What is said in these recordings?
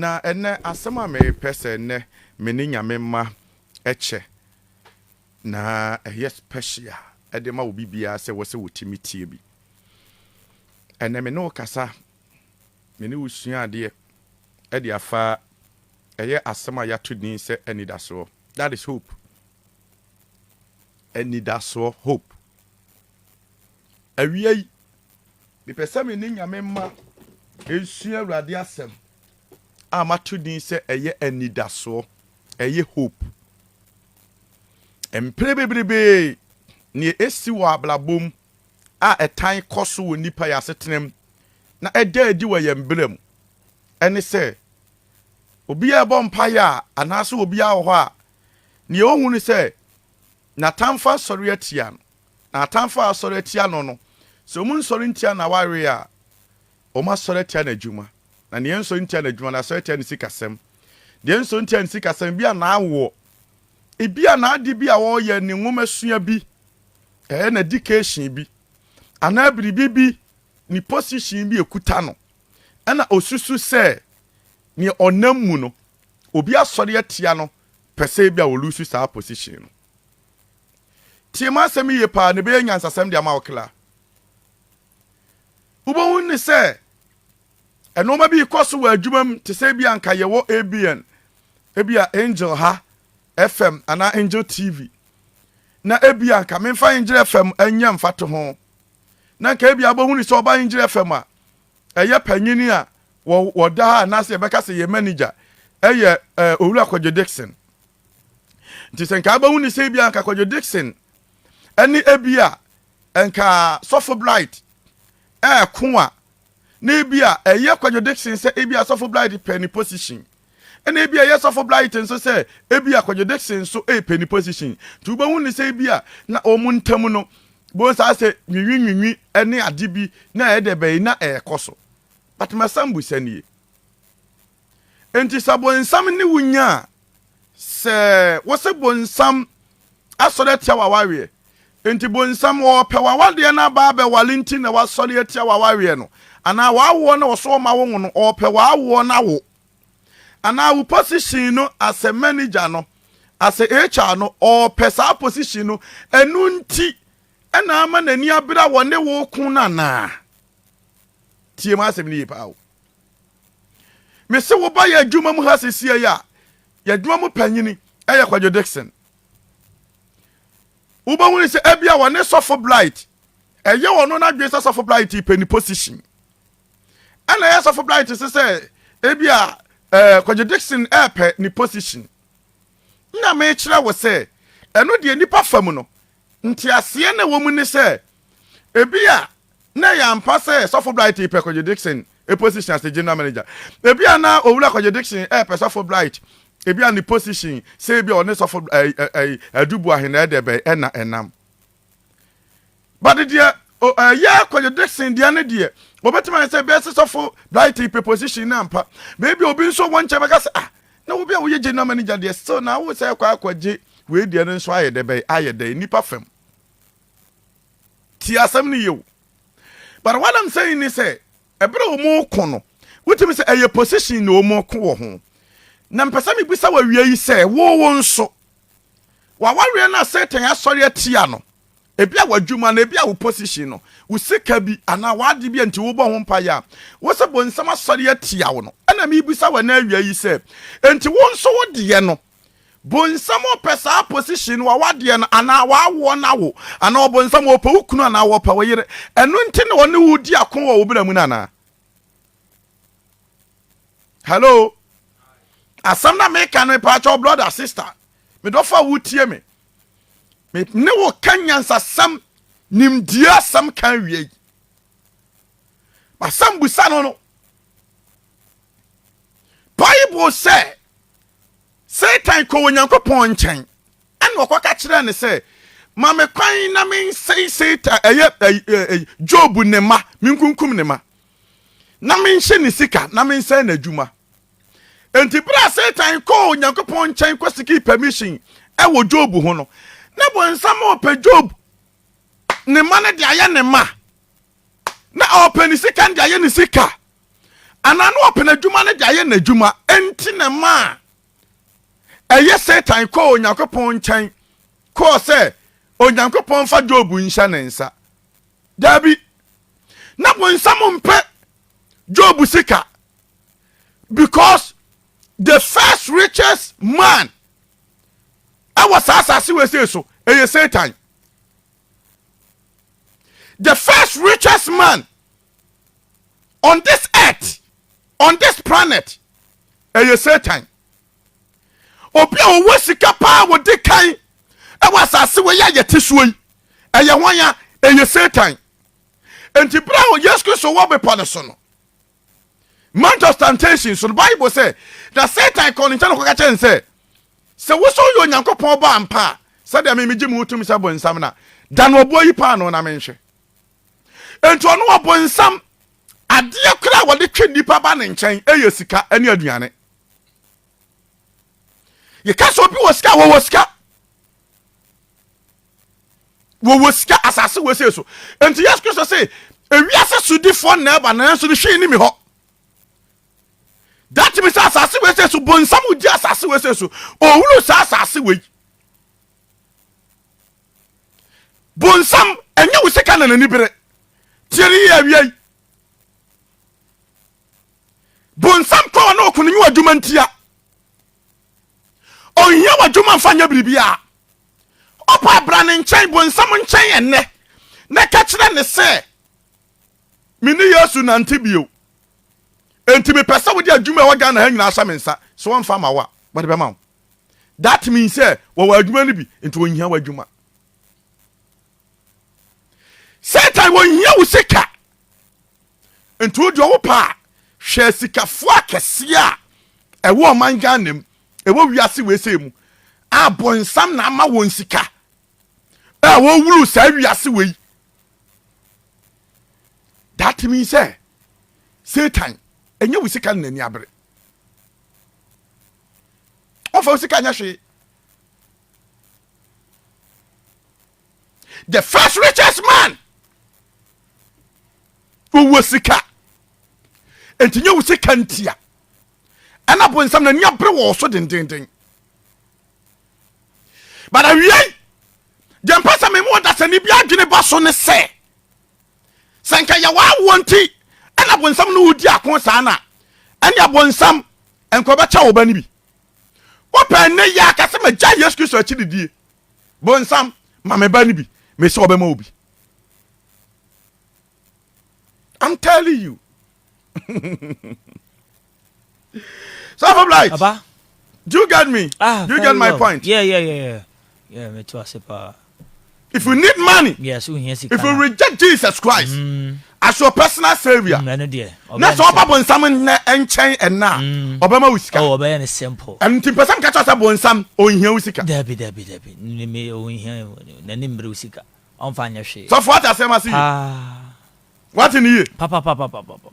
Na ɛnnɛ, asɛm a merepɛ sɛ nnɛ me ne Nyame mma kyɛ, na ɛyɛ special de ma obi biara sɛ ɛwɔ sɛ ɔtumi tie bi. Ɛnnɛ me ne wo kasa me ne wo sua adeɛ de afa ɛyɛ asɛm a yɛato din sɛ Anidasoɔ. That is hope. Anidasoɔ, hope. Awia yi, mepɛ sɛ me ne Nyame mma ɛnsua Awurade asɛm a mato din sɛ ɛyɛ anidasoɔ, ɛyɛ hope. Mpere bebrebee, neɛ ɛsi wɔ abrabɔ mu a ɛtan kɔ so wɔ nnipa yɛn asetenam na ɛda adi wɔ yɛn bra mu. Ɛne sɛ, obiara rebɔ mpaeɛ a, anaasɛ obiara wɔ hɔ a, nea ɔhu ne sɛ n'atamfo asɔre atia no. Na atamfo a asɔre atia no no, sɛ wɔn nsɔre ntia n'awareɛ a, wɔn asɔre atia n'adwuma. Na nea ɛnsɔre ntia n'adwuma no, asɔre atia ne sikasɛm. Deɛ ɛnsɔre ntia ne sikasɛm, ebi a n'awoɔ, ebi a n'ade bi a ɔreyɛ, ne nwomasua bi, ɛyɛ na education bi anaa biribi bi ne position bi ekuta no ɛna osusu sɛ nea ɔnam mu no obi asɔre atia no pɛ sɛ ebi a olusu saa position no tie mu asɛm yie paa na ebɛyɛ nyansasɛm de ama wo kla wobɛhu ne sɛ ɛnoɔma bi kɔ so wɔ adwuma mu te sɛ ebi anka yɛwɔ abn ebi a angel ha FM anaa Angel TV. Na ebia anka memfa Angel FM nyɛ mfatoho. Na anka ebia wobɛhunu sɛ ɔba Angel FM a, ɛyɛ panyin a wɔda ha anaasɛ yɛbɛka sɛ yɛ manager ɛyɛ Owura Kwadwo Dixon. Nti sɛ nka wobɛhunu sɛ ebia anka Kwadwo Dixon ɛne ebia nka Sɔfo Bright ɛɛko a, na ebia ɛyɛ kwadwode sen sɛ ebia sɔfo Blythe pɛ ne position. Ɛna ebia ɛyɛ sɔfo Blythe nso sɛ ebia kwadwode sen nso repɛ ne position. Nti wobɛhu ne sɛ ebia na wɔn ntam no, bohu saa sɛ nwinwinwinwi ne ade bi na ɛyɛ dɛ bɛyi na ɛrekɔ so. But m'asɛmbusa nie. Enti sɛ bonsam ne wo nya a, sɛ wose bonsam asɔre atia w'awareɛ, enti bonsam ɔɔpɛ w'awadeɛ no aba abɛware nti na wasɔre atia w'awareɛ no, anaa w'awoɔ no a ɔso ɔma wo wo no, ɔɔpɛ w'awoɔ no awo, anaa wo position no as a manager no, as a HR no, ɔɔpɛ saa position no, ɛno nti ɛna ama n'ani abere a wɔne wo reko no anaa? Tie m'asɛm no yie paa o. mese wo ba yɛ adwuma mu ha sesie yi a yɛadwuma mu panyini ɛyɛ kwadwo dixon wobɛhu ne sɛ ebia wɔne sɔfo blight ɛyɛ wɔn no n'adwene sɛ sɔfo blight pɛ ne position ɛna ɛyɛ sɔfo blight sɛ sɛ ebia ɛɛ eh, kwadwo dixon ɛɛpɛ ne position na mekyerɛ wo sɛ ɛno deɛ nipa fam no Nteaseɛ na ɛwɔ mu ne sɛ, ebia na ɛyɛ ampa sɛ Sɔfo Blight repɛ Kwadwo Dickson position as the General Manager. Ebia na Owura Kwadwo Dickson repɛ Sɔfo Blight ebia ne position sɛ ebia ɔne Sɔfo Adu Boahe na ɛdɛ bɛn ɛna ɛnam. But deɛ ɛyɛ Kwadwo Dickson deɛ ne deɛ, wɔbɛtumi ayɛ sɛ bɛyɛ sɛ Sɔfo Blight repɛ position no ampa. Baabi a obi nso wɔ nkyɛn bɛka sɛ ah, Na wobi a woye gye nam ani gya deɛ still na wo sɛ ɛkɔ akɔ gye wei deɛ no nso ayɛ dɛ bɛyɛ ayɛ dɛn nipa fam tie asɛm no yie o but what I'm saying ne sɛ ɛberɛ a wɔn ko no wotumi sɛ ɛyɛ position na wɔn ko wɔ ho na mpɛ sɛ mebisa wɔ awia yi sɛ wo wo nso wawareɛ no a satan asɔre atia no Ebia w'adwuma no, ebia wo position no, wo sika bi anaa w'ade bi a nti wobɔ ho mpaeɛ a, wo sɛ bonsam asɔre atia wo no. Ɛna mebisa wo ɛnɛ awia yi sɛ, nti wo nso wo deɛ no, bonsam ɔpɛ saa position no, w'awadeɛ no anaa w'awoɔ no awo, anaa ɔbonsam ɔpɛ wo kunu anaa ɔpɛ wo yere, ɛno nti na ɔne wo di ako wɔ wo bra mu no anaa? Hello? Asɛm na meka no, mepaakyɛw brother, sister, medɔfo a wotie me. ne wo ka nyansasɛm nimdeɛ asɛm ka awie yi basɛm busa no no bible sɛ satan kɔ onyankopɔn nkyɛn ɛna ɔkɔka kyerɛ ne sɛ ma me kwan na mensɛe satan ɛyɛ job ne ma menkunkum ne ma na menhyɛ ne sika na mensɛe n'adwuma Enti bere a Satan kɔɔ Onyankopɔn nkyɛn kɔsikii permission wɔ Job ho no, na bonsam ɔpɛ Job ne mma no de ayɛ ne mma, na ɔpɛ ne sika no de ayɛ ne sika, anaa na ɔpɛ n'adwuma no de ayɛ n'adwuma. Enti na ma a ɛyɛ Satan kɔɔ Onyankopɔn nkyɛn kɔɔ sɛ Onyankopɔn fa Job nhyɛ ne nsa. Daabi, na bonsam mpɛ Job sika. because the first richest man ɛwɔ saa asase wɔ ese so ɛyɛ satan the first richest man on this earth on this planet ɛyɛ satan obi a ɔwɔ sika paa wɔde kan ɛwɔ asase wɔ yɛ a yɛte soɔ yi ɛyɛ wɔn a ɛyɛ satan nti bere a yesu kristo wɔ bepɔ no so no Mount of Temptation so no, Bible sɛ, Na Satan kɔɔ ne nkyɛn kɔka kyerɛɛ no sɛ, Sɛ wo sɛ woyɛ Onyankopɔn ba ampa a, sɛdeɛ me megye me wo tumi sɛ bonsam no a, da no ɔboɔ yi paano na menhwɛ. Enti ɔno ɔbonsam, adeɛ koraa a wɔde twe nnipa ba ne nkyɛn yɛ sika ne aduane. yɛka sɛ obi wɔ sika wɔwɔ sika wɔwɔ sika asase wɔsei so enti yesu kristo se ewiase sodifoɔ na ɛba nanso no hwee ne mi hɔ that means asase wɔsei so bonsam gye asase wɔsei so ɔwuru saa asase wei bonsam ɛnyɛ wo sika na n'ani bere tiɛ ne yɛ awia yi bonsam tɔ ɔne ɔko no nyɛ w'adwuma ntia ɔnhia w'adwuma mfa nyɛ biribiaa ɔpa abra ne nkyɛn bonsam nkyɛn ɛnnɛ na ka kyerɛ ne sɛ me ne yesu nante bio enti mepɛ sɛ wode adwuma ɛwɔ ghana ha nyinaa hyɛ me nsa sɛ wɔmfa ma wo a wɔde bɛma wo that means sɛ wɔwɔ adwuma no bi nti wɔnhia w'adwuma satan wɔhia wo sika nti wodeɛ ɔwo paa hwɛ sikafoɔ akɛseɛ a ɛwɔ ɔman ghana mu ɛwɔ wiase weesei mu a bɔnsam na ama wɔn sika a wɔwuru saa wiase wei that means sɛ satan ɛnyɛ wo sika no n'ani abere ɔfa wo sika nyɛ hwee the first richest man ɔwɔ sika enti nyɛ wo sika ntia ɛna bonsam n'ani abere wɔ so dendenden but awiei deɛ mpɛ sɛ memu ɔdasani bi adwene ba so ne sɛ sɛ nka yɛwɔ awoɔ nti ɛna bonsam no wodi ako saa na ɛne abonsam nkɔbɛkyɛ wo ba no bi wopɛ nnɛ yi aka sɛ magya yesu kristo akyi didie bonsam ma me ba no bi mesɛ ɔbɛma obi i'm telling you Self of light. Aba. Do you get me? Ah, do you get my well. point? Yeah, yeah, yeah, yeah. Yeah, me too, I say, if you need money yes ohia sika if you reject jesus christ mm. as your personal saviour mm, ɛno deɛ na sɛ ɔba bonsam nnɛ nkyɛn ɛna a mm. ɔbɛma wo sika oh, ɔbɛyɛ ne simple ɛno nti mpɛ sɛ mka kyerɛ sɛ bonsam ɔnhia wo sika dabi dabi dabi ɔnhia n'ani mmere wo sika ɔmfa nyɛ hwee sɔfo ate asɛm ase yi wate ne yie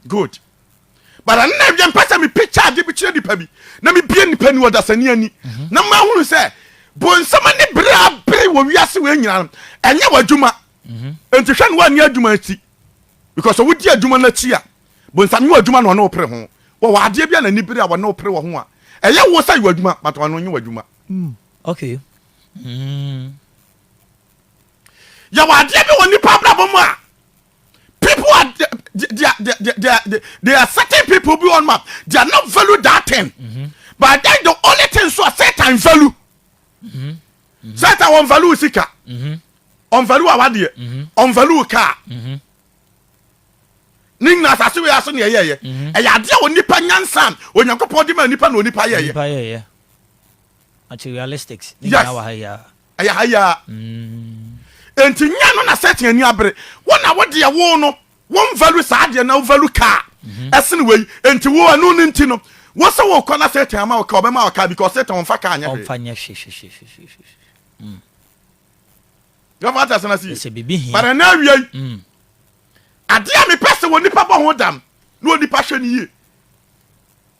good but ɛno na ɛdeɛ mpɛ sɛ mepikya ade bi kyerɛ nipa bi na mebie nipa ni ɔdasani ani mhm. na mahunu sɛ bonsɛma ne bere a bere wɔ wiase wei nyina no ɛnyɛ w'adwuma mhm. nti hwɛ ne woanni adwuma akyi because wodi adwuma no akyi a bonsam nyɛ w'adwuma na ɔne wo pere ho wɔwɔ adeɛ bi a n'ani bere a wɔne wo pere wɔ ho a ɛyɛ wo sɛ yɛ w'adwuma but ɔno nyɛ w'adwuma mm. okay mm. yɛwɔ adeɛ bi wɔ nipa abrabɔ mu a people are they, they, are, they, they, they, are, they are certain people bi wɔn ma they are not value that thing mm -hmm. but then the only thing so a satan value mm -hmm. Mm -hmm. satan wɔn value sika wɔn mm -hmm. value awadeɛ wɔn mm -hmm. value car. Mm -hmm ne nyina asase wei ase ne ɛyɛyɛ mhm. ɛyɛ adeɛ a onipa nyansa onyankopɔn de ma nipa na onipa yɛyɛ Materialistics ne nyinaa wɔ ha yi ara. Yes, ɛyɛ ha yi ara. Enti nyɛ no na Satan ani abere. Wo na wo deɛ wo no, wo nvalu saa adeɛ no na wo valu kaa ɛsene wei. Enti wo ɛno no nti no, wo se wo kɔ na Satan ama wo kaa, ɔbɛma wo kaa because Satan ɔmfa kaa nyɛ hwee. Ɔmfa nyɛ hwee. Your father asɛm ase yie. Sɛ biribi hia. But ɛnɛ awia yi, adeɛ a mepɛ sɛ onipa bɔ ho dam na onipa hwɛ no yie.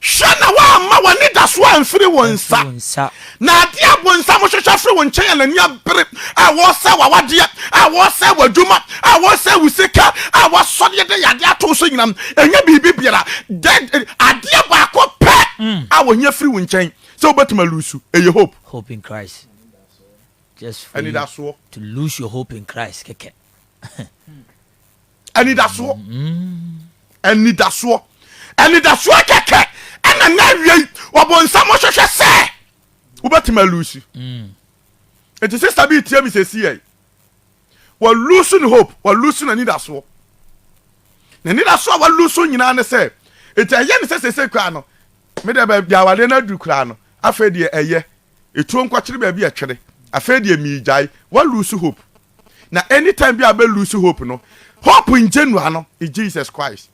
Hwɛ na woamma w'anidaso amfiri wo nsa, na adeɛ a bonsam hwehwɛ firi wo nkyɛn a n'ani abere, a wɔresɛe w'awadeɛ, a wɔresɛe w'adwuma, a wɔresɛe wo sika, a wɔasɔre de yɛ adeɛ ato so nyinam, ɛnyɛ biribi biara, adeɛ baako pɛ a wɔhia firi wo nkyɛn sɛ wobɛtumi alusu, ɛyɛ hope. Hope in Christ. Just for you to lose your hope in Christ kɛkɛ. anidasoɔ anidasoɔ anidasoɔ kɛkɛ ɛna na awie yi ɔbɔnsam hwehwɛ sɛ wobɛtumi alusi nti sista bi tie mi sɛ si yɛ walusu ne hope walusu n'anidasoɔ n'anidasoɔ a walusu nyinaa ne sɛ nti ɛyɛ ne sɛ sese koraa no medeɛ baabi awadeɛ no aduru koraa no afei deɛ ɛyɛ ɛtuo nkɔkyere baabi ɛtwere afei deɛ miigyae walusu hope na any time bi a bɛ lose hope no hope ngye nua no in Jesus Christ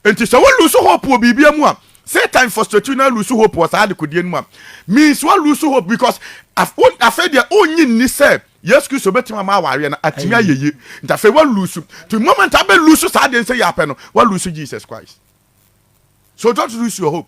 nti sɛ wo lose hope wɔ biribia mu a Satan frustrate you na lose hope wɔ saa adekodeɛ no mu a means wa lose hope because afei deɛ ɔnyi nni sɛ Yesu Kristo bɛtumi ama awareɛ no atumi ayɛ yie nti afei wa lose to moment a bɛ lose saa deɛ nsɛ yɛ apɛ no wa lose Jesus Christ so don't lose your hope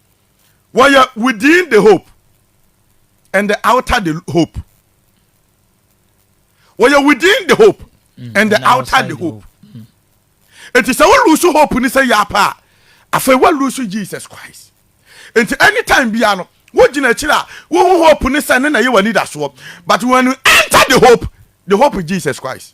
wɔyɛ within the hope and the outer the hope wɔyɛ within the hope mm, and the outer the hope nti sɛ wolusu hope ni sɛ yɛ apa a afei wolusu jesus christ nti anytime bia no wogyina akyiri a wohu hope ne sɛ ne na yɛ w'anidasoɔ but when you enter the hope the hope is jesus christ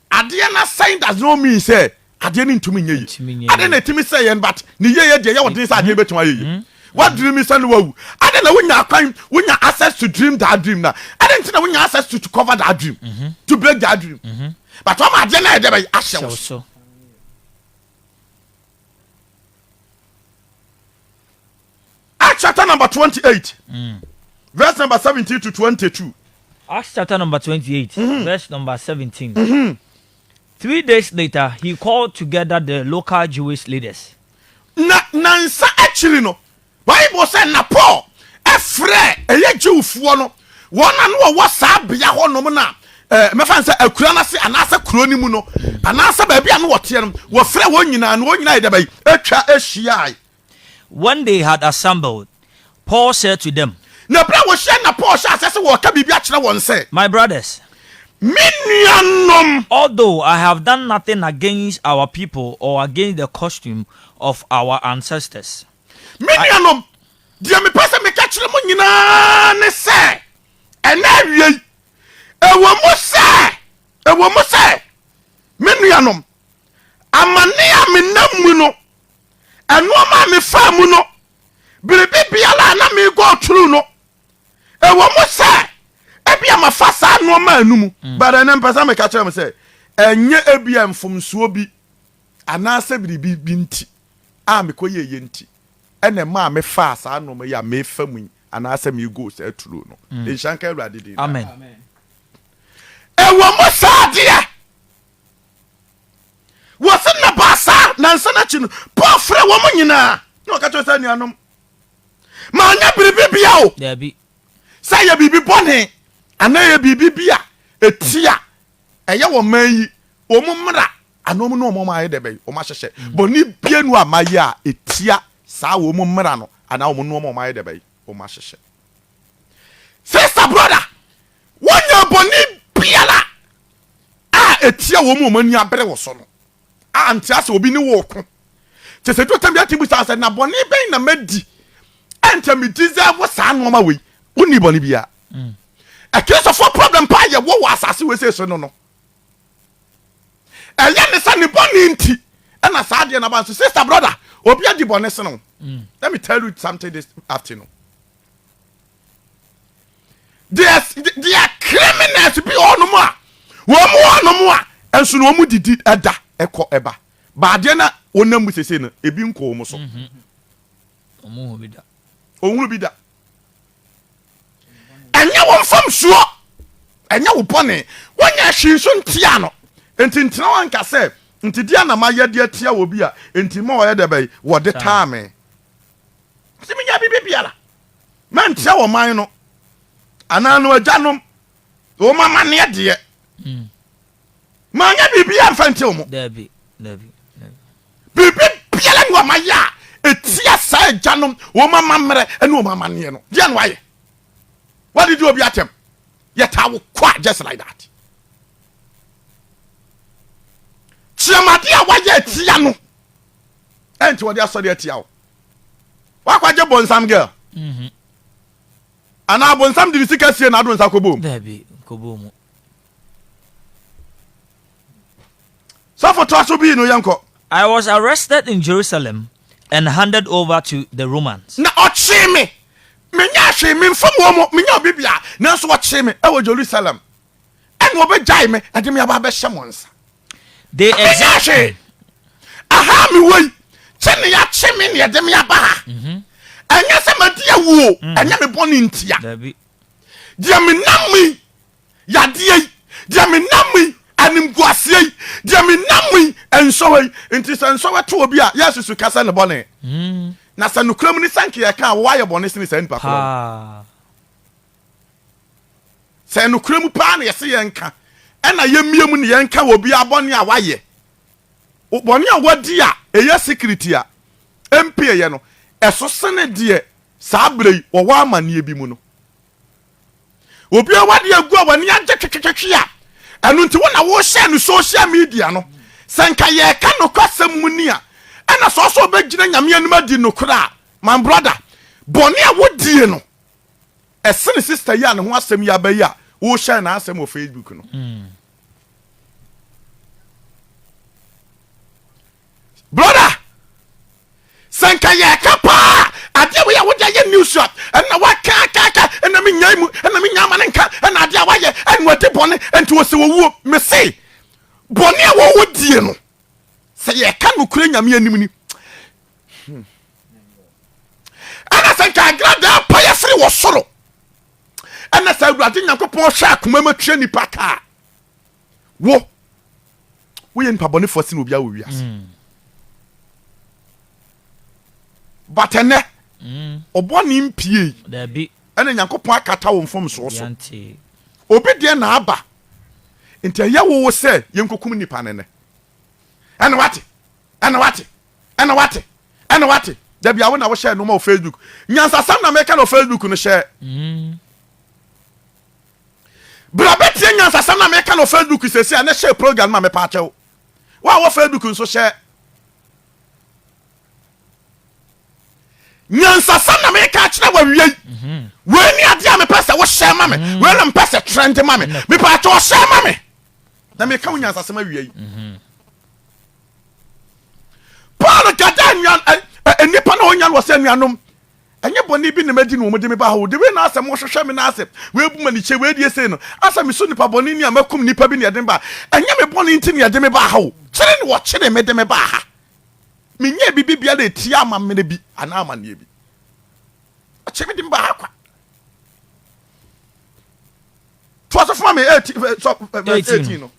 Adeɛ no asɛe does not mean sɛ adeɛ no ntumi nyɛ yie. Adɛn na ɛtumi sɛe yɛn but ne yieɛ deɛ ɛyɛ wo den sɛ adeɛ no bɛtumi ayɛ yie. Wo dream yi sɛ na wawu, adɛn na wonya kwan, wonya access to dream that dream na adɛn nti na wonya access to to cover that dream, to break that dream but wama adeɛ no ayɛ dɛ bɛn? Ahyɛ wo so. Acts chapter number 28, mm. verse number 17 to 22. Acts chapter number 28, mm-hmm. verse number 17. Mm-hmm. Three days later, he called together the local Jewish leaders. Na nansa akyiri no, Bible sɛ na Paul ɛfrɛ ɛyɛ Jewfoɔ no wɔn a no wɔwɔ saa bea hɔ nom na eh, mɛfa sɛ akura no ase anaasɛ kuro no mu no anaasɛ baabi a no wɔteɛ no wɔfrɛ wɔn nyinaa no wɔn nyinaa yɛ dɛ bɛyi atwa ahyiae When they had assembled, Paul said to them. Na bere a wɔhyiae na Paul hyɛɛ aseɛ sɛ wɔreka biribi akyerɛ wɔn sɛ. My brothers. Me nuanom. Although I have done nothing against our people or against the custom of our ancestors. Me nuanom, deɛ mepɛ sɛ meka kyerɛ mo nyinaa ne sɛ, ɛnɛ awia yi, ɛwɔ mu sɛ, ɛwɔ mu sɛ, me nuanom, amane a menam mu no Nnoɔma a mefaa mu no, biribi biara a na me go through no, ɛwɔ mu sɛ ebia mafa saa nnoɔma no mu, mm. but ɛnɛ mpɛ sɛ meka kyerɛ mo sɛ ɛnyɛ ebia mfomsoɔ bi anaasɛ biribi bi nti a mekɔyɛ yɛ nti ɛna ɛma a mefaa saa nnoɔma yi a mefa mu yi anaasɛ mego saa turo no mm. nhyɛ nka awurade din amen ɛwɔ mu saa adeɛ Wɔse nna baasa nansa no akyi no, Paul frɛɛ wɔn nyinaa, na ɔka kyerɛɛ wɔn sɛ, Anuanom, manyɛ biribi biara o, sɛ ɛyɛ biribi bɔne anaa ɛyɛ biribi bi a ɛtia ɛyɛ wɔ man yi, wɔn mmara anaa wɔn nnoɔma wɔn ayɛ dɛ bɛn, wɔn ahyehyɛ, mm. bɔne biara nu a mayɛ a ɛtia saa wɔn mmara no anaa wɔn nnoɔma wɔn ayɛ dɛ bɛn, wɔn ahyehyɛ. Sister brother, Wɔnyɛɛ bɔne biara a ɛtia wɔn a wɔn ani abere wo so no. A Nte ase obi ne wo reko. Kyɛ sɛ ɛduru ɔtam bi a, ɛtumi bisa wo sɛ, Na bɔne bɛn na madi a ɛnkyɛ me deserve saa nneɛma wei? Wonnii bɔne biara. Mm. Akristofoɔ problem paa yɛwɔ wɔ asase wei seesei no no, ɛyɛ ne sɛ ne bɔne nti ɛna saa adeɛ naba nso. Sister, brother, obi adi bɔne sene wo. Mm. Let me tell you something this afternoon. there's there are criminals bi ɔnom a wɔn mu ɔnom a ɛnso na wɔn didi ɛda ɛkɔ ɛba baadeɛ na wɔnam mu sese no ebi nkɔ wɔn so mhm. ɔhunu bi da ɔhunu bi da ɛnyɛ wɔn fam soɔ ɛnyɛ wo bɔne wɔnyɛ ahwi nso ntia no nti ntena wɔn nka sɛ nti di anama yɛ deɛ tia wɔ bi a nti ma ɔyɛ dɛ bɛyi wɔde taa me nti mi nya bi bi biara. Mɛnkyerɛ ɔman no anaa no agyanom wɔn amanneɛ deɛ. Hmm. Manyɛ biribi amfa ntew mo. Dabi, dabi, dabi. Biribi biara ni wɔn ayɛ a etia saa agyanom wɔn amammerɛ ne wɔn amanneɛ no. Deɛ no ayɛ. Wadidi obi atɛm. Yɛtaa wo kwa just like that. Kyiamade a wayɛ atia no ɛnti wɔde asɔre atia wo. Wakɔgye bonsam girl. Mhm. Anaa bonsam de ne sika sie na ado nsa kɔbɔ mu. Daabi, nkɔbɔ mu. Sɔfo toa so bii no yɛnkɔ. I was arrested in Jerusalem and handed over to the Romans. Na ɔkyee me. Menyɛɛ hwee, memfam wɔn mu, menyɛɛ obi biara, nanso wɔkyee me wɔ Jerusalem. Ɛnna wɔbɛgyae me de me aba abɛhyɛ mo nsa. de ɛyɛ hwee aha me wɔ yi kyɛ ne yɛakye me ne yɛde me aba ha mhm. ɛnyɛ sɛ madi awuo mm. ɛnyɛ me bɔne ntia deɛ menam me yadeɛ yi deɛ menam me animguaseɛ yi deɛ menam me nsɔwa yi nti sɛ nsɔwa to obi a yɛasusu ka sɛ ne bɔne mm. na sɛ nokorɛ mu ne sɛ nka yɛka a wɔayɛ bɔne sene saa nnipa korɔ Sɛ nokorɛ mu paa na yɛse yɛnka, ɛna yɛmmie mu na yɛnka wɔ biaa bɔne a wayɛ, bɔne a wadi a ɛyɛ secret a ɛmpieyɛ no, ɛso sene deɛ saa berɛ yi wɔwɔ amaneɛ bi mu no. Obiaa w'adeɛ agu a w'ani agye twetwetwetwe a, ɛno nti wo na wohyɛɛ no social media no. Sɛ nka yɛreka nokwasɛm mu ni a, ɛna sɛ ɔsɛ ɔbɛgyina Nyame anim adi nokorɛ a, my brother, bɔne a wodie no, Ɛsen sister yi a ne ho asɛm yi aba yi a wohyɛ n'asɛm wɔ Facebook no. Mm. Brother, sɛ nka yɛka paa adeɛ wei a wode ayɛ news a ɛna wakakaka ɛna menya mu ɛna menya ama no nka ɛna adeɛ a wayɛ ɛna ɔde bɔne ɛnti wɔ sɛ wɔwuo mese bɔne a wɔwɔ die no sɛ yɛka nokorɛ nyame anim ni hmm. ɛna sɛ nkagra da apaeɛ firi wɔ soro ɛna sɛ awurade nyankopɔn hwɛ akoma mu atua nipa kaa wo woyɛ nipa bɔnefoɔ sene obiaa wɔ wiase hmm. but ɛnɛ hmm. ɔbɔne mpiei ɛna nyankopɔn akata wo mfomsoɔ so obi deɛ na aba nti ɛyɛ wowo sɛ yɛnkɔkum nipa no nɛ ɛne wate ɛne wate Ɛna wate ɛna wate dabi awo na wohyɛ noma wɔ facebook nyansasɛm na meka na wɔ facebook no hyɛ bra bɛtie nyansasɛm na meka na wɔ facebook sɛsi a na hyɛ program ma mepa akyɛw wo a wɔ facebook nso hyɛ nyansasɛm na meka akyerɛ wawie yi mhm. wei ne adeɛ a mepɛ sɛ wohyɛ ma me mhm. wei na mepɛ sɛ trɛnde ma me mepɛ akyɛ ɔhyɛ ma me na meka wo nyansasɛm awie yi mhm. paul kata nnuan eh, eh, eh, nnipa na ɔnya no wɔ sɛ nnuanom ɛnyɛ bɔne bi na madi na wɔde me ba hɔ de wei na asɛm wɔhwehwɛ me na asɛ wɔabu ma nikyɛ wɔadie sei no asɛ me so nipa bɔne ni a makum nipa bi na yɛde me ba ɛnyɛ me bɔne nti na yɛde me ba ha o kyere ne wɔkyere me de me ba ha menyɛ biribi bia na ɛtia ama mene bi anaa amanneɛ bi ɔkyere me de me ba ha kwa toa so foma me 18 no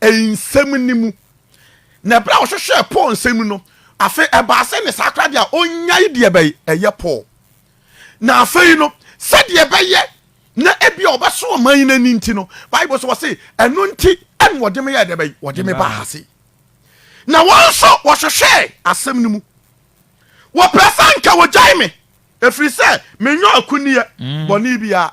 nsɛm no mu. Na berɛ a ɔhwehwɛɛ Paul nsɛm mu no, afei ɛbaa sɛ ne saa koraa deɛ a ɔnnyae deɛ bɛyɛ ɛyɛ Paul. Na afei no, sɛdeɛ ɛbɛyɛ na ebi a ɔbɛso ɔman yi n'ani nti no, Bible so wɔse, ɛno nti ɛna wɔde me yɛɛ deɛ bɛyɛ, wɔde me baa ha se. Na wɔn nso wɔhwehwɛɛ asɛm no mu. Wɔpɛ sɛ anka wɔgyae me, ɛfiri sɛ menyɛ akunneɛ bɔne biara.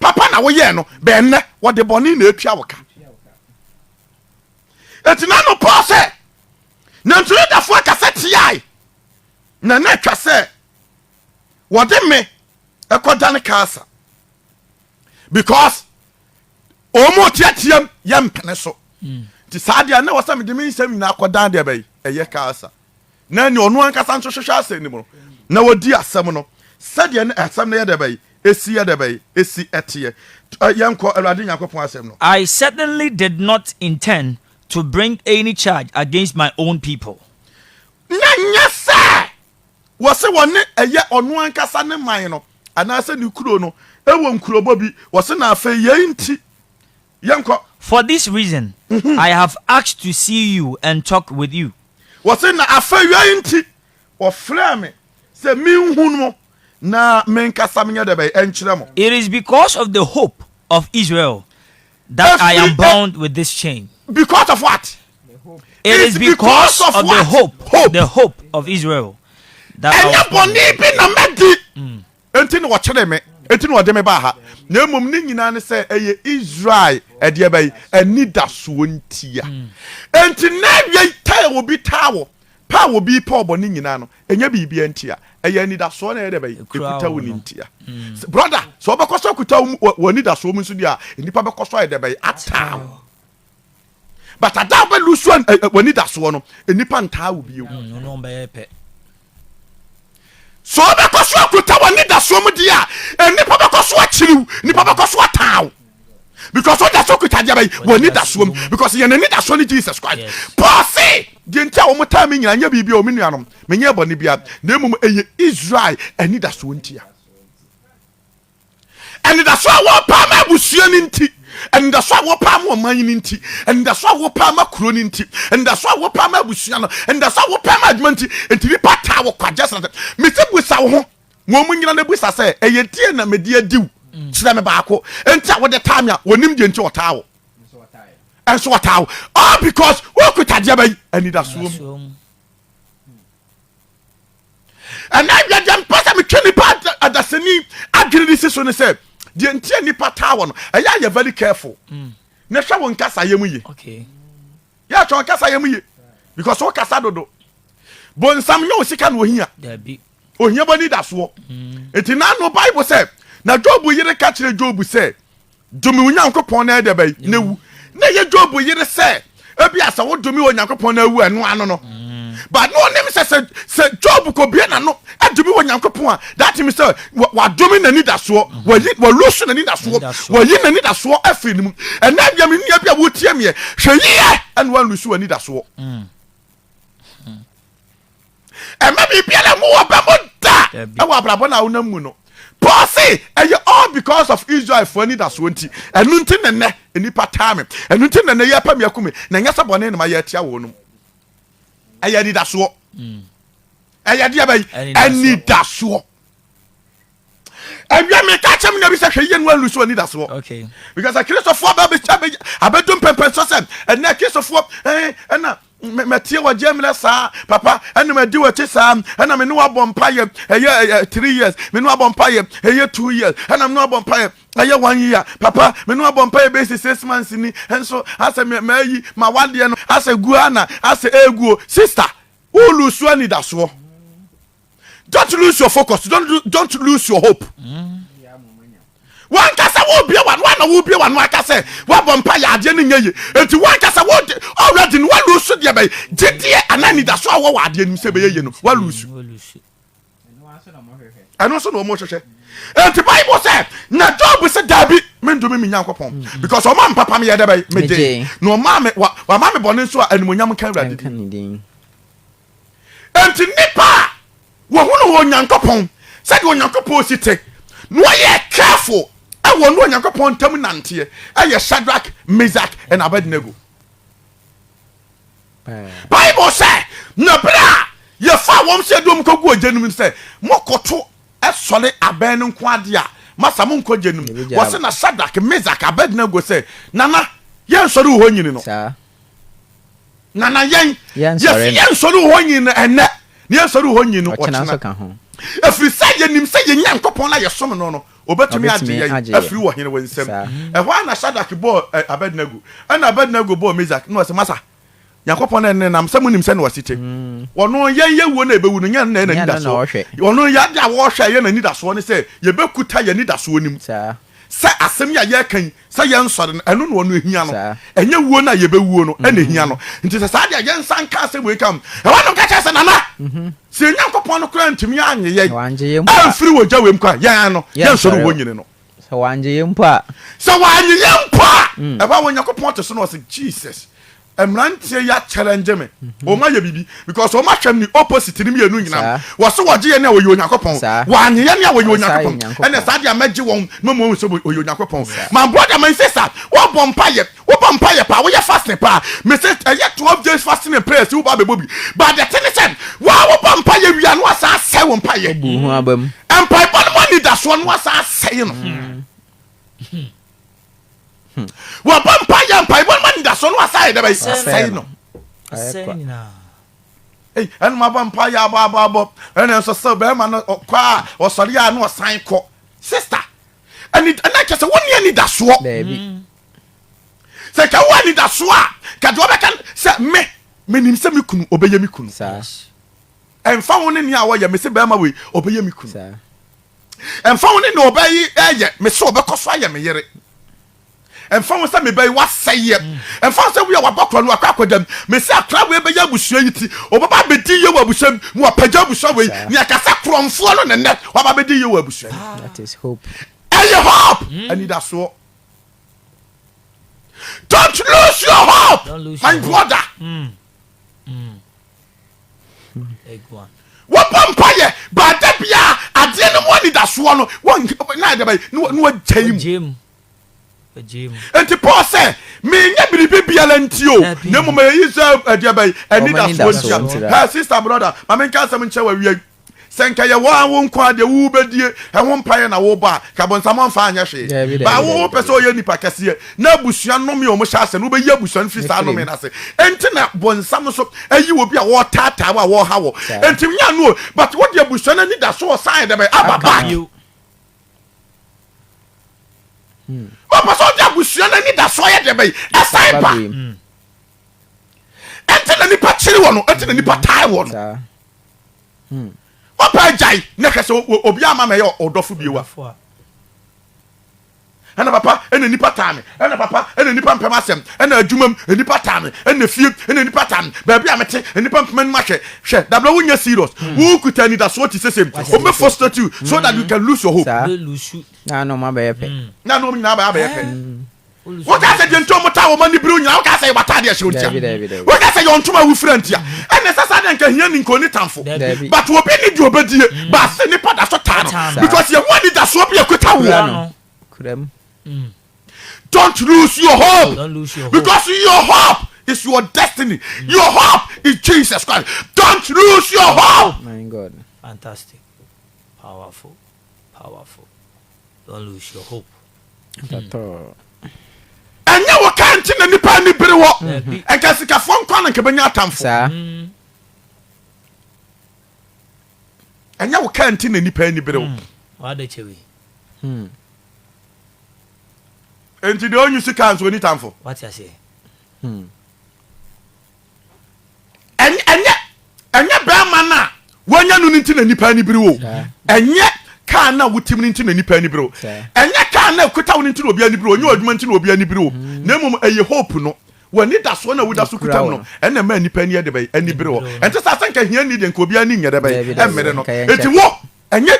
papa na woyɛɛ no bɛn nnɛ wɔde bɔne na atua wo ka ɛti na no paul sɛ nanso yudafoɔ akasa tiae na na atwa sɛ wɔde me ɛkɔdane kaasa because ɔmu tiatiam yɛ mpene so nti saa deɛ na wɔ sɛ mede me nsɛm nyinaa kɔdan deɛ bɛyi ɛyɛ kaasa na nea ɔno ankasa nso hwehwɛ asɛm no mu no, na wɔdi asɛm no sɛdeɛ na asɛm no yɛ dɛ bɛyi, ɛsi yɛ dɛ bɛyi, ɛsi ɛteɛ. Yɛnkɔ Awurade Nyankopɔn asɛm no. I certainly did not intend to bring any charge against my own people. Na ɛnyɛ sɛ wɔse wɔne ɛyɛ ɔno ankasa ne man no anaasɛ ne kuro no ɛwɔ nkurobɔ bi, wɔse na afei yei nti Yɛnkɔ. For this reason I have asked to see you and talk with you. Wɔse na afewia yi nti wɔfrɛɛ me sɛ menhunu mo na menkasa menyɛ dɛ bɛn? Nkyerɛ mo. It is because of the hope of Israel that I am bound with this chain. Because of what? It is because of the hope, the hope of Israel that I was bound with this chain. Ɛnyɛ bɔne bi na madi. Enti na wɔkyeree me, enti na wɔde me baa ha, na mmom ne nyinaa ne sɛ ɛyɛ Israel ɛdeɛ bɛn? Anidasoɔ ntia. Enti na awiei ta a obi taa wɔ, pɛ a obi pɛ wɔ bɔne nyinaa no, ɛnyɛ biribiara ntia. Ɛyɛ anidasoɔ na ɛyɛ dɛ bɛn? Ɛkuta wo no ntia. Brɔda, sɛ wobɛkɔ so akuta wo anidasoɔ mu nso deɛ a, nnipa bɛkɔ so ayɛ dɛ bɛn? Ataa wo. but ada a wobɛlusu eh, eh, w'anidasoɔ no nnipa ntaa wo bio mm, so wobɛkɔ so akuta w'anidasoɔ mu deɛ a nnipa bɛkɔ so akyiriw nnipa bɛkɔ so ataaw because wode so kuta deɛ bɛyi w'anidasoɔ mu because yɛn anidasoɔ ne jesus christ paul se deɛ nti a wɔn taa me nyina nyɛ biribi a wɔn nuanom menyɛ bɔne bia na mmom ɛyɛ israel anidasoɔ ntia Anidaso a wɔpaa ma abusua no nti, anidaso a wɔpaa ma ɔman no nti, anidaso a wɔpaa ma kuro no nti, anidaso a wɔpaa ma abusua no, anidaso a wɔpaa ma adwuma nti, nti nipa taa wɔ kwa gyesra sɛ, mesi busa wo ho, wɔn mu nyina na busa sɛ, ɛyɛ deɛ na mede adiw? Kyerɛ me baako nti a wode taa me a wɔnim deɛ nti ɔtaa wo. Nso ɔtaa wo. All because wokuta deɛ bɛyi anidasoɔ mu. ɛnɛ awiadeɛ mpɛ sɛ metwe nipa adasani adwene de si so ne sɛ deɛ nti a nipa taa wɔ no ɛyɛ ayɛ very careful mm. na hwɛ wo nkasayɛ mu ye yɛ hwɛ wo nkasayɛ mu ye because wo kasa dodo bonsam nyɛ wo sika na ohia Ohia bɔ nidasoɔ. Enti na no Bible sɛ, na Job yere ka kyerɛ Job sɛ, dome wo Nyankopɔn na ɛdɛ bɛyi na wu. Na ɛyɛ Job yere sɛ, ebi a sɛ wodome wɔ Nyankopɔn na awu ɛno ano no. But na ɔnim sɛ sɛ sɛ Job kɔ bie na no adome wɔ Nyankopɔn a, that means sɛ wadome na nidasoɔ, wayi walusu na nidasoɔ, wayi na nidasoɔ afiri ne mu. Ɛnna bia me nua bi a wotie meɛ, hwɛ yie ɛna wanlusu wɔ nidasoɔ. ɛma biribiara mu wɔ bɛ mu da ɛwɔ abrabɔ no a wonam mu no paul se ɛyɛ all because of israelfoɔ anidasoɔ nti ɛno nti ne nnɛ nnipa taa me ɛno nti ne nnɛ yɛpɛ me aku me na ɛnyɛ sɛ bɔne ne ma yɛatia wɔ nom ɛyɛ anidasoɔ mm. ɛyɛ deɛ bɛyi anidasoɔ awia meka kyɛm nna bi sɛ hwɛ yie no anlu so anidasoɔ because akristofoɔ abɛdu mpɛmpɛn so sɛ ɛnɛ akristofoɔ ɛna mɛtie wɔ gye mmerɛ saa papa ɛna madi wɔkyi saa ɛna me ne wabɔ mpayɛ ɛyɛ three years me ne wabɔ mpayɛ ɛyɛ two years ɛna me ne wabɔ mpayɛ ɛyɛ one year papa me ne wabɔ mpayɛ bɛsi six months ni nso asɛ mɛyi ma wadeɛ no asɛ guo ana asɛ ɛguo sister wolusuo anidasoɔ don't lose your focus don't, lo- don't lose your hope wankasa wobie wa wana wobie wa no aka sɛ woabɔ mpa yɛ adeɛ no nyɛ ye enti wankasa wode already no walusu deɛ bɛyɛ gyedeɛ anaa anidaso a wɔ wɔ adeɛ nim sɛ bɛyɛ ye no walusu Olusu. ɛno nso na ɔmo hwehwɛ enti bible sɛ na job sɛ daabi mendome me nyankopɔn because ɔma mpapa meyɛ dɛ bɛyɛ megye Megye. na ɔma me wa- wama me bɔne nso a animonyam nka awurade Ɛnka din ne din. Enti nnipa a wɔhunu wɔ Onyankopɔn sɛdeɛ Onyankopɔn si te na wɔyɛ careful wɔ ne Onyankopɔn ntam nanteɛ ɛyɛ Shadrach, Meshach and Abednego. Bible sɛ na berɛ a yɛfaa wɔn sɛ dom kɔgu ogya no mu sɛ mokoto sɔre abɛn no nko adeɛ a masa monkɔ gya no mu wɔse na Shadrach, Meshach, Abednego sɛ nana yɛnsɔre wɔ hɔ nyini no. nana yɛn yɛsi yɛn nsɔre hɔ nyi no ɛnɛ na yɛn nsɔre hɔ nyi no ɔkyena efiri sɛ yɛnim sɛ yɛn nyankopɔn na yɛsom no no obetumi agye yɛn afiri wɔ hene wɔ nsam ɛhɔ a na shadak bɔɔ eh, abednego ɛna abednego bɔɔ mezak na ɔsɛ masa nyankopɔn na ɛne nam sɛ monim sɛ na ɔsi te mm. ɔno yɛn yɛ wuo na ɛbɛwu no yɛn na ɛna nidasoɔ ɔno yɛ ade a wɔhwɛ yɛn na nidasoɔ ne sɛ yɛbɛkuta yɛn nidasoɔ nim Sɛ asɛm yi a yɛreka yi, sɛ yɛnsɔre no, ɛno na ɔno ahia no. Ɛnyɛ wuo no a yɛbɛwuo no na ɛhia no. Nti sɛ saa deɛ a, yɛnsa nka asɛm wei ka ho. Ɛhɔ na ɔka kyerɛɛ sɛ, Nana, sɛ yɛn Nyankopɔn no koraa antumi annye yɛn amfiri wɔ gya wei mu koraa a, yɛn no, yɛnsɔre wɔ nyini no. Sɛ wannye yɛn mpo a. Sɛ wannye yɛn mpo a. Ɛhɔ a Onyankopɔn te so na ɔse, Jesus, mmeranteɛ yi akyɛlɛngye me wɔn ayɛ biribi because wɔn ahwɛ me opposite no mmienu nyinaa no wɔso wɔgye yɛ ne a wɔyɛ onyankopɔn wɔanye yɛ ne a wɔyɛ onyankopɔn ɛnna saa deɛ mɛgye wɔn na wɔn sɛ wɔyɛ onyankopɔn my brother my sister wɔbɔ mpaeɛ wɔbɔ mpaeɛ paa wɔyɛ fasting paa mese ɛyɛ twelve days fasting and prayers wɔba abɛbɔ bi but the thing is sɛ wɔa wɔbɔ mpaeɛ wia no asan asɛe wɔn mpaeɛ mpaebɔ no mu anidasoɔ no asan asɛe no hmm. wɔbɔ mpa yɛ mpaebɔ no ma anidasoɔ no wasan yɛ dɛ bɛyɛ asɛe no ɛnum abɔ mpa yɛ abɔ abɔ abɔ ɛna nso sɛ bɛrima no kɔ a ɔsɔre a na ɔsan kɔ sista ɛna kyɛ sɛ wonni anidasoɔ sɛ ka wo anidasoɔ a ka deɛ ɔbɛka sɛ me menim sɛ me kunu ɔbɛyɛ me kunu ɛmfa wo ne nea wɔyɛ me se bɛrima wei ɔbɛyɛ me kunu Ɛmfa ho ne nea ɔbaa yi reyɛ me sɛ ɔbɛkɔ so ayɛ me yere. Ɛmfa ho sɛ me ba yi wasɛe yɛ. Ɛmfa ho sɛ wei a wabɔ kora no wakɔ akɔda mu. Me sɛ akora wei bɛyɛ abusua yi ti. Ɔbɛba abɛdi yie wɔ abusua mu. Mu apagya abusua wei. Nea ɛka sɛ korɔmfoɔ no na nnɛ waba abɛdi yie wɔ abusua no mu. Ɛyɛ hope. Anidasoɔ. Don't lose your hope, my brother. wɔbɔ mpayɛ baada biara adeɛ no mu anidasoɔ no na ɛdɛ bɛyɛ na wɔgyae mu nti paul sɛ menyɛ biribi biara nti o na mmom ɛyi sɛ ɛdeɛ bɛyɛ anidasoɔ ntia sister brother ma menka asɛm nkyɛ wɔ awiai Sɛ nka yɛ wɔ a wo nko a deɛ wo bɛdie ɛho mpaeɛ na wobɔ a, nka bonsam ɔmfa anyɛ hwee. Daabi, Baa daabi, wo daabi, pɛ sɛ daabi. ɔyɛ nipa kɛseɛ na abusua nome a wɔhyɛ ase no, wobɛyi abusua no firi saa Ɛfiri nome mu. no ase. Enti na bonsam nso ayi obi a wɔretaataa wo a wɔreha wɔ. Saa. Enti nyɛ ano o, but wode abusua no ani da so ɔsan yɛ dɛ bɛn? Aba Aka back. bio. Ɔpɛ sɛ ɔde abusua no ani da so ɔyɛ dɛ bɛn? Ɛsan Ɛba ba. bio mu. ɛnti na nipa kyere wɔn ɛnti na nipa tae wɔn hmm. wapa agyae na hwɛ sɛ obi ama ma ɛyɛ ɔdɔfo biewa ɛna papa ɛna nipa taa me ɛna papa ɛna nipa mpɛm asɛm ɛna adwuma mu nipa taa me ɛna fie ɛna nipa taa me baabi a mete nipa mpɛm anum ahwɛ hwɛ dabila wo nyɛ serious hmm. wo kuta anidasoɔ ti sese mu o mɛ frustrate you so that you hmm. can lose your hope. saa na anam abɛyɛ pɛ. na anam nyinaa abɛyɛ pɛ. woka sɛ deɛ nti ɔmo taa wɔn ani biriw nyinaa woka sɛ yɛwɔ ataade ɛhyɛ ntia woka sɛ yɛwɔ ntoma awufira ntia ɛna ɛsɛ saa deɛ nka hia ni nka oni tanfo but obi ni deɛ obedie mm. baase nipa da so taa no because yɛn ho ani da soɔ bi ɛkuta woɔ. Mm. don't lose your hope don't lose your hope because your hope is your destiny mm. your hope is Jesus Christ don't lose your hope. my God fantastic powerful powerful. Don't lose your hope. ɛnyɛ wɔ kaa nti na nipa ani bere wɔ nka sikafoɔ nkwa na nka bɛnya atamfo ɛnyɛ wɔ kaa nti na nipa ani bere wɔ nti deɛ ɔnyi sika nso ɔni tamfo ɛnyɛ ɛnyɛ bɛrima no a wanya no no nti na nipa ani bere o ɛnyɛ kaa no a wotim no nti na nipa ani bere o ɛnyɛ kaa no a ɛkuta wo no nti na obi ani bere o ɛnyɛ adwuma nti na obi ani bere o mm. na mmom ɛyɛ hope no w'ani da soɔ na woda so kuta mu no ɛna ɛma nipa ani ɛde bɛyɛ ani bere o ɛnte sɛ asɛ nka hia ni deɛ nka obi ani nyɛ dɛ bɛyɛ ɛmmere no ɛti wo ɛnyɛ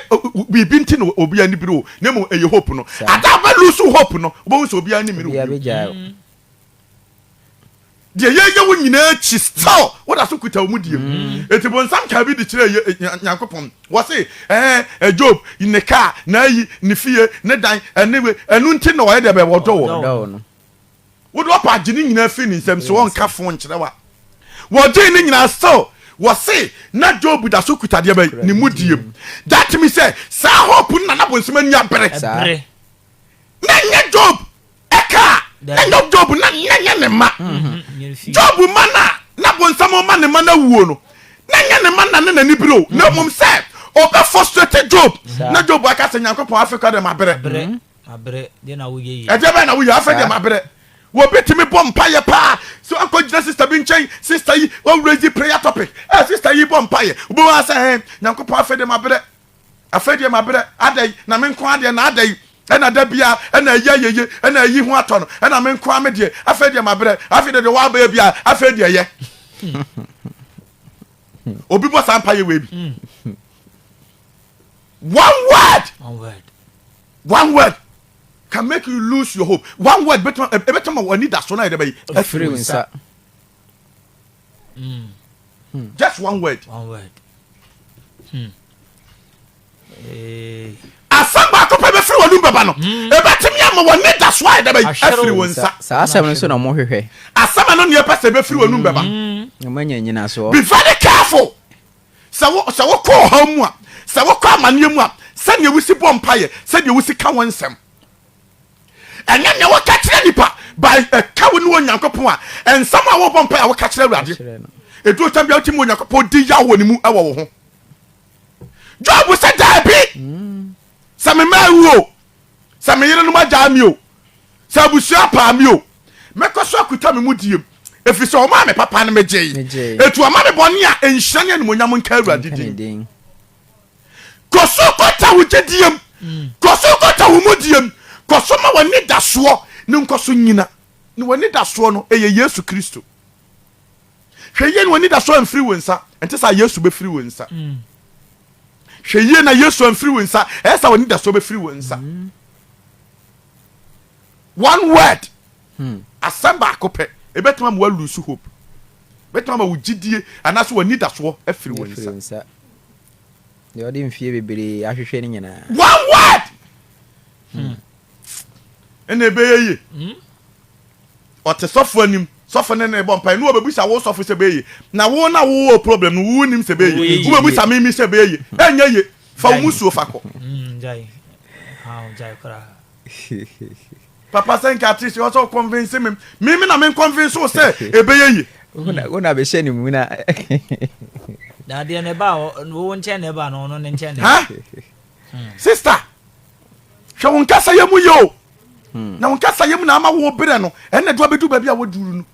biribi nti na obi ani bere o na mmom ɛyɛ hope no ada abɛlusu hope no wobɛhu sɛ obi ani mmere o Deɛ yɛyɛ wo nyinaa akyi still woda so kuta wɔn deɛ mu. Enti mm. bonsam kaa bi de kyerɛɛ eh, Nyankopɔn. Wɔse, ɛɛ, eh, Job, ne kaa, n'ayi, ne fie, ne dan, ɛne we, ɛno nti na ɔyɛ deɛ bɛyɛ wɔdɔ wɔ. Wode ɔpa agye ne nyinaa firi ne nsam so wɔnka fo nkyerɛ wa. Wɔgyee ne nyinaa still wɔse na Job da so kuta deɛ bɛyɛ ne mu deɛ mu. That means sɛ saa hope no na na bonsam ani abere. Na nyɛ Job ɛka a ɛnyɛ job na nyɛ ne ma mm-hmm. job ma no a na bonsam ma ne ma no awuo no na nyɛ ne ma na ne n'ani bere o na mmom mm-hmm. sɛ ɔbɛ frustrate job na job aka sɛ nyankopɔn afei kɔ dɛ mabrɛ mm-hmm. ɛdeɛ bɛɛ na woyɛ afei deɛ mabrɛ wɔbɛtumi bɔ mpayɛ paa sɛ akɔgyina sister bi nkyɛn sister yi wɔwurɛsi prayer topic ɛ eh, sister yi bɔ mpayɛ wobɛwaa sɛ ɛ nyankopɔn afei de mabrɛ Afei deɛ mabrɛ, adɛn, na me nko ara deɛ na adɛn, ɛna da biara ɛna ayi ayɛyie, ɛna ayi ho atɔ no, ɛna me nko ara me deɛ, afei deɛ mabrɛ, afei deɛ deɛ wɔabɛyɛ biara, afei deɛ yɛ. Obi bɔ saa mpaeɛ wei bi. Hmm. One word. One word. One word can make you lose your hope. One word better ma wani da so na yɛde bɛyi. Afiri nsa. Mm. Hmm. Just one word. One word. Hmm. Hey. Eh. asɛm baako pɛ bɛfiri wɔnom bɛba no hmm. ɛbɛtumi ama wɔne da so ayɛ dɛbɛ afiri wo nsa saa asɛm no nso na mohwehwɛ asɛm ɛno neɛ pɛ sɛ ɛbɛfiri wɔnom bɛba hmm. manya nyinasoɔ be very careful sɛ wokɔ ɔhaw mu a sɛ wokɔ amanneɛ mu a sɛdeɛ wosi bɔ mpayɛ sɛdeɛ wosi ka wo nsɛm Ɛnyɛ nea woka kyerɛ nnipa ba ɛka wo ne Onyankopɔn a nsɛm a wobɔ mpae a woka kyerɛ Awurade. Ɛduru tam bia wotumi Onyankopɔn di yaw wɔ ne mu ɛwɔ wo ho. Job sɛ daabi sɛ me mma awu o sɛ me yerenom agyaa me o sɛ abusua paa me o mɛkɔ so akuta me mu diem ɛfiri sɛ ɔmaa me papa no megyee ɛtu ɔma me bɔne a ɛnhyira ne animonyam nka Awurade din kɔ so kɔta wo gyedie mu, kɔ so kɔta wo mudie mu, kɔ so ma w'ani da soɔ ne nkɔ so nyina. Na w'ani da soɔ no, ɛyɛ Yesu Kristo. Hwɛ yie na w'ani da soɔ amfiri wo nsa, ɛnte saa Yesu bɛfiri wo nsa. Hwɛ yie na Yesu amfiri wo nsa, ɛyɛ saa w'ani da soɔ bɛfiri wo nsa. One word, hmm. asɛm baako pɛ, ɛbɛtumi ama wa lose hope, ɛbɛtumi ama wo gyidie anaasɛ w'ani da soɔ afiri wo nsa. deɛ ɔde mfie bebree ahwehwɛ no nyinaa one word hmm. ɛna ɛbɛyɛ ye hmm? ɔte sɔfo anim sɔfo ne ne bɔ mpa ne wɔbɛbisa wo sɔfo sɛ bɛyɛ na wo na wowɔ problem no wonim sɛ bɛyɛ wobɛbisa mimi sɛ bɛyɛ ɛnyɛ ye fa wo mu suo fa kɔ hmm, Papa sɛ nka ate sɛ ɔsɛ ɔkɔnvinse me me me na me nkɔnvinse wo sɛ ɛbɛyɛ yie. wo na bɛhyɛ ne mu na. dadeɛ ne ba wo nkyɛn ne ba no ɔno ne nkyɛn ne. Hmm. sista hwɛ wo nkasa yɛ mu yɛ o hmm. na wo nkasa yɛ mu na ama wo berɛ no ɛnna ɛdo abɛdu baabi a wɔduru no.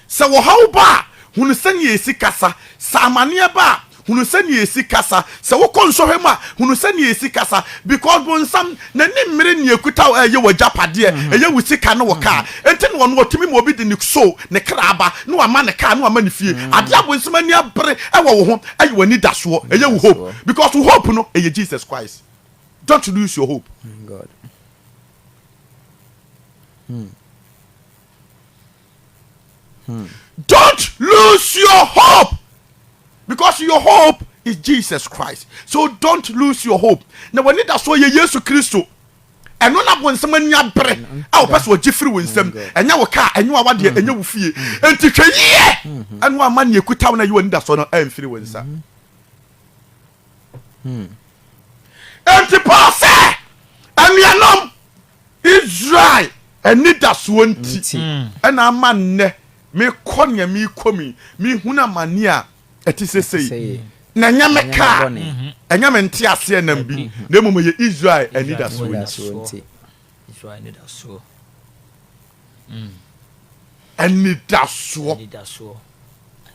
Sɛ ɔhaw ba a, hunu sɛnea esi kasa. Sɛ amanneɛ ba a, hunu sɛnea esi kasa. Sɛ wokɔ nsɔhwɛ mu a, hunu sɛnea esi kasa. Because bonsam, n'ani mmere nea ekuta wo a ɛyɛ w'agyapadeɛ, ɛyɛ wo sika ne wo car. Enti na ɔno ɔtumi ma obi de ne so, ne kra aba, na wama ne car, na wama ne fie. Adeɛ a bonsam ani abere wɔ wo ho yɛ w'anidasoɔ, ɛyɛ wo hope. Because wo hope no, ɛyɛ Jesus Christ. Don't lose your hope. Don't lose your hope because your hope is Jesus Christ. So don't lose your hope. Na w'ani da so yɛ Yesu Kristo. ɛno na bonsam ani abere a wɔpɛ sɛ ɔgye firi wo nsam ɛnyɛ wo kaa ɛnyɛ wawa deɛ ɛnyɛ wo fie nti hwɛ yie ɛno ama neɛ kuta wo na ɛyɛ w'ani da so no ɛmfiri wo nsa nti paul sɛ anuanom Israel anidasoɔ nti na ama nnɛ mekɔ nea merekɔ mu yi, mehunu amane a ɛte sɛ sei. Na ɛnyɛ me ka a, ɛnyɛ me nteaseɛnam bi, na mmom ɛyɛ Israel anidasoɔ nti. Anidasoɔ.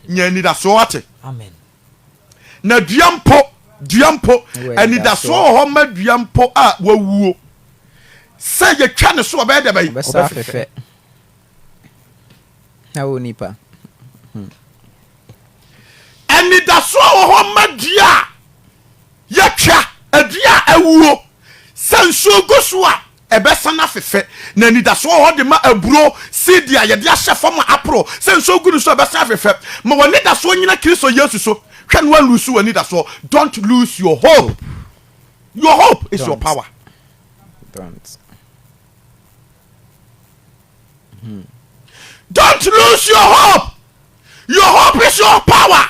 Nya anidasoɔ, woate? Na dua mpo, dua mpo, anidasoɔ wɔ hɔ ma dua mpo a wawuo, sɛ yɛtwa ne so ɔbɛyɛ dɛ bɛyi. Ɔbɛsa fɛfɛ. Na wo nipa. Hmm. Anidasoɔ wɔ hɔ ma dua a yɛtwa, adua a awuo, sɛ nsuo gu so a Ɛbɛsan afefɛ, na anidaso wɔ hɔ de ma aburow, seedi a yɛde ahyɛ fam a aporow sɛ nsu gu no so. Ɛbɛsan afefɛ. Ma w'anidasoɔ nnyina Kristo Yesu so. Hwɛ na woanluusu w'anidasoɔ. Don't lose your hope. Your hope is your power. Don't lose your hope. Your hope is your power.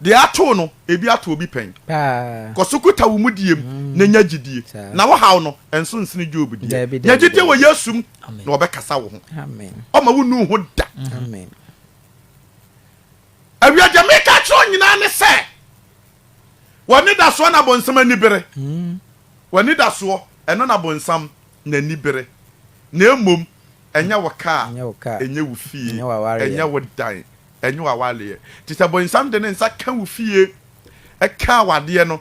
Deɛ atoo no, ebi ato obi pɛn. Kɔ so kuta wo mudie mu na nya gyidie, na wo haw no, ɛnso nsene Job deɛ. Nya gyidie wɔ Yesu mu, na ɔbɛkasa wo ho. Ɔremma wonnu wo ho da. Awia, deɛ mereka akyerɛ wo nyinaa ne sɛ, W'anidasoɔ na bonsam ani bere. W'anidasoɔ, ɛno na bonsam n'ani bere, na mmom ɛnyɛ wo kaa, ɛnyɛ wo fie, ɛnyɛ wo dan, Ɛnyɛ w'awaleɛ. Nti sɛ bonsam de ne nsa ka wo fie, ka awadeɛ no,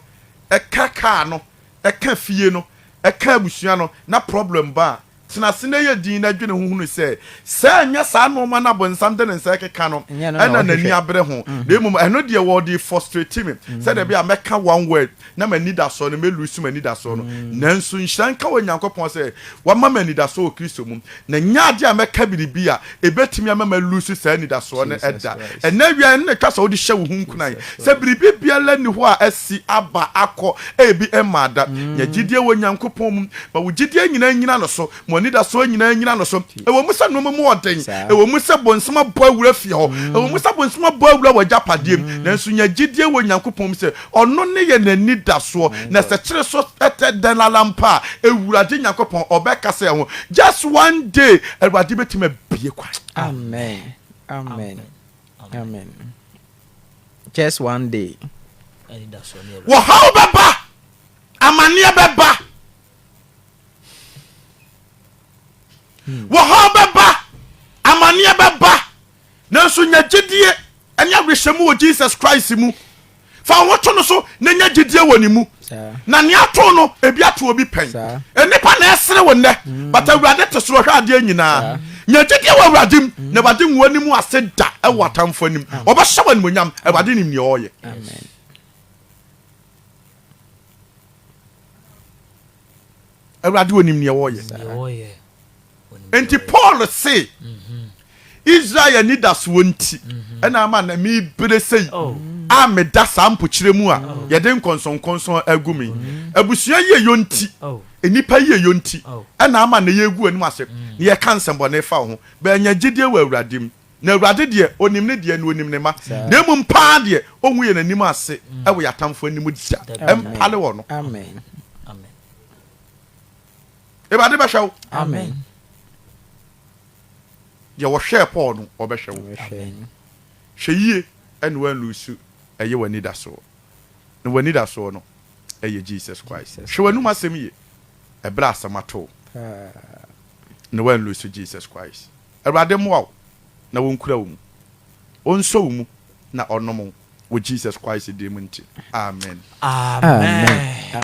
ka kaa no, ka fie no, ka abusua no, na problem ba a, tena ase na yɛ dinn na dwene ho hunu sɛ, sɛ ɛnyɛ saa nnoɔma no a bonsam de ne nsa rekeka no, ɛna n'ani abere ho, na mmom ɛno deɛ ɔde refrustrate me, sɛdeɛ ɛbɛyɛ a mɛka one word, na m'anidasoɔ no, mɛlusu m'anidasoɔ no. Nanso nhyira nka Onyankopɔn sɛ wama me anidasoɔ wɔ Kristo mu, na ɛnyɛ adeɛ a mɛka biribi a ɛbɛtumi ama malusu saa anidasoɔ no da. Ɛnnɛ awia yi, ɛno na ɛtwa sɛ wode hyɛ wo ho nkuran, sɛ biribi biara nni hɔ a asi, aba, akɔ, ebi mmaa da. Nya gyidie wɔ Onyankopɔn mu. Ma wo gyidie nyinaa nnyina ne so. Mo anidasoɔ nyinaa nnyina no so. Ɛwɔ mu sɛ nnoɔma mu wɔ den, ɛwɔ mu sɛ bonsam abɔ awura fie hɔ, ɛwɔ mu sɛ bonsam abɔ awura w'agyapadeɛ mu, nanso nya gyidie wɔ Nyankopɔn mu sɛ Ɔno ne yɛn anidasoɔ. Na sɛ kyere so tɛ dɛn ara mpo a, Awurade Nyankopɔn ɔbɛkasa yɛn ho. Just one day, Awurade bɛtumi abue kwan. Amen. Amen. Amen. Just one day. Wɔhaw bɛba, amaneɛ bɛba. wɔhaw bɛba amaneɛ bɛba nanso nya gyedie ɛne awerɛhyɛ mu wɔ jesus christ mu fa wo to no so na nya gyedie wɔ ne mu na nea ato no ebi ato obi pɛn nnipa na ɛsere wo nnɛ mm. but awurade te soro hwɛ adeɛ nyinaa nya gyedie wɔ awurade mu mm. na awurade nwoa ne mu ase da ɛwɔ atamfo anim ɔbɛhyɛ wɔ animonyam awurade nim nea ɔreyɛ awurade onim neɛ wɔyɛ nti paul se mhm. israel anidasoɔ nti mhm. ɛna ama na mebere sei oh. a meda saa mpokyerɛ mu a oh. yɛde nkɔnsɔnkɔnsɔn agu me mhm. abusua yieyɔ nti oh. nnipa yieyɔ nti ɛna ama na yɛgu anim ase na yɛka nsɛmbɔne fa wo ho bɛanya gyidie wɔ awurade mu Na Awurade deɛ Onim ne deɛ, na Onim ne mma, na mmom paa deɛ, Ongu yɛn anim ase wɔ yɛn atamfoɔ anim da. Ɛmpale wɔn. Awurade bɛhwɛ wo. Amen. Deɛ ɔhwɛɛ Paul no, ɔbɛhwɛ wo. Hwɛ yie na woanluusu ɛyɛ w'anidasoɔ. Na w'anidasoɔ no yɛ Jesus Christ. Hwɛ w'anom asɛm yie ɛberɛ a asɛm ato wo, na woanluusu Jesus Christ. Awurade mmoa wo na wɔnkura wo mu, ɔnsɔ wo mu na ɔnom wo wɔ Jesus Christ din mu nti, amen. Amen.